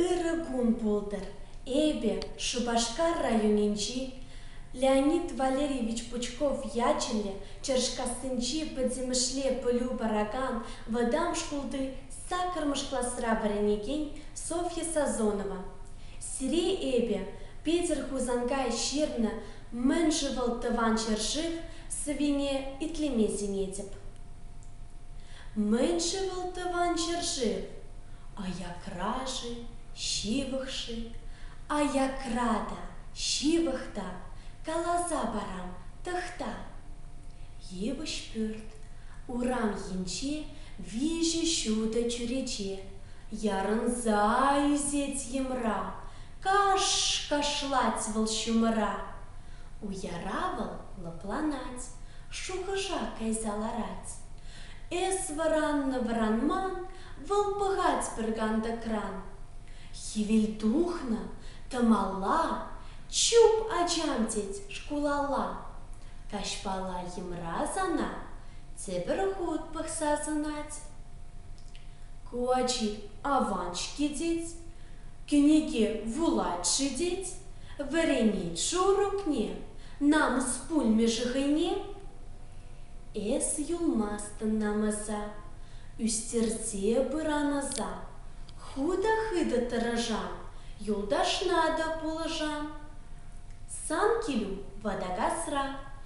Ырӑ кун пултӑр эпӗ Шупашкар районӗнчи Леонид Валерьевич Пучков ячӗллӗ Чӑрӑшкассинчи пӗтӗмӗшле пӗлӳ паракан вӑтам шкулти Саккӑрмӗш класра вӗренекен Софья Сазонова, Сире эпӗ, Питӗр-Хусанкай ҫырнӑ Мӗн-ши вӑл тӑван ҫӗршыв сӑвине итлеме сӗнетӗп. Мӗн-ши вӑл тӑван ҫӗршыв? Аякра-ши, ҫывӑх-ши? Аякра та, ҫывӑх та, каласа парам, тӑхта. Йывӑҫ пӳрт, урам енче Виҫӗ ҫутӑ чӳрече ярӑнса ӳсет йӑмра, Каш! кашлать вӑл ҫумӑра. Уяра вӑл лӑпланать, шухӑша кайса ларать. Эс вӑраннӑ-вӑранман вӑл пӑхать пӗр кантӑкран. Хӗвел тухнӑ, тӑмалла, чуп ачам тет шкулалла. Каҫпала йӑмра сана Тепӗр хут пӑхса сӑнать. Ку ачи аван-ҫке тет, кӗнеке вулать-ши тет, вӗренет шурукне, намӑс пулмӗ-ши хӑйне? Эс юлмастӑн намӑса, ӳстерсе пыран ӑса, хутӑ-хытӑ тӑрӑшан, юлташна та пулӑшан. Сан килӳ ватакасра,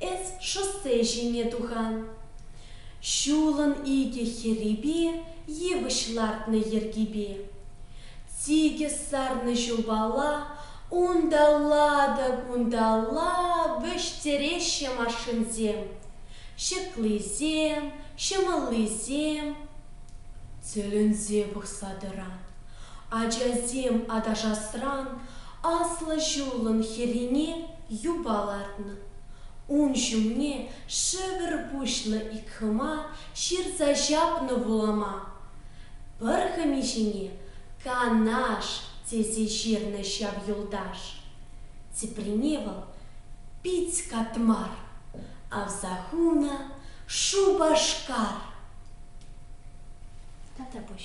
эс шоссе ҫине тухан. Ҫулӑн икӗ хӗрипе йывӑҫ лартнӑ йӗркипе сикӗс сарнӑ ҫулпала унталла-та-кунталла вӗҫтереҫҫӗ машинсем, ҫыклисем, ҫӑмӑллисем. Тӗлӗнсе пӑхса тӑран. Ачасем аташасран аслӑ ҫулӑн хӗррине юпа лартнӑ. Ун ҫумне шӗвӗр пуҫлӑ ик хӑма ҫырса ҫапнӑ вулама. Пӗр хӑми ҫине Канаш тесе ҫырнӑ ҫав юлташ. Теприне вӑл пит катмар, авса хунӑ Шупашкар. Тата пуҫ.